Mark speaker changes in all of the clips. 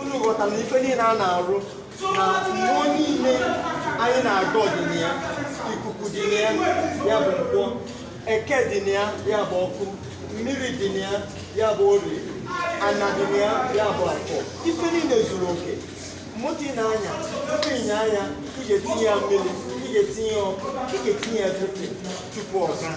Speaker 1: unu ghọtara na ife niile a na-arụ na mmụọ niile anyị na-agọ ọ dị na ya ikuku dị na ya ya bụ nkwọ eke dị na ya ya bụ ọkụ mmiri dị na ya ya bụ ori ana dị na ya ya bụ afọ ife niile zuru oke moto ị na-anya tupu ị nyaa ya ị ga-etinye ya mmiri ị ga-etinye ya ọkụ ị ga-etinye ya dịpị tupu ọ gaa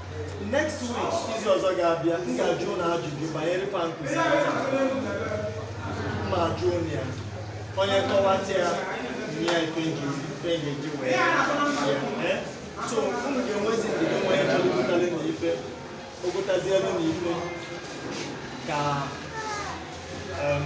Speaker 1: next week izu ọzọ ga-abịa m ga-ajụ unu ajụjụ banyere fa nkụzi ma ajụ unu ya onye kọwata ya nye ya ife m ji ife m ji wee ya ee so unu ga-enwezi ndidi nwa ya chọrọ ogotali na ife ogotazielu na ife ka em,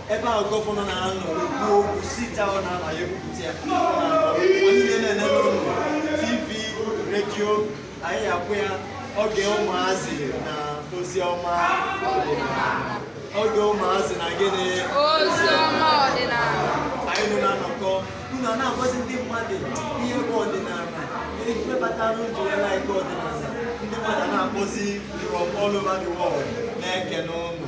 Speaker 1: ebe ahụ gọvanọ na-anọ ekwu okwu site ahụ na-ala ya ekwupụta ya niile na-ene n'ụlọ tv redio anyị akpọọ ya oge ụmụazị na ozi ọma oge ụmụazị na gịnị ozi
Speaker 2: ọma ọdịnala anyị nọ na
Speaker 1: nnọkọ unu a na-agwazi ndị mmadụ ihe bụ ọdịnala ihe batara ụjọ ya na-eke ọdịnala ndị mmadụ na-akpọzi from all over the world na-ekene unu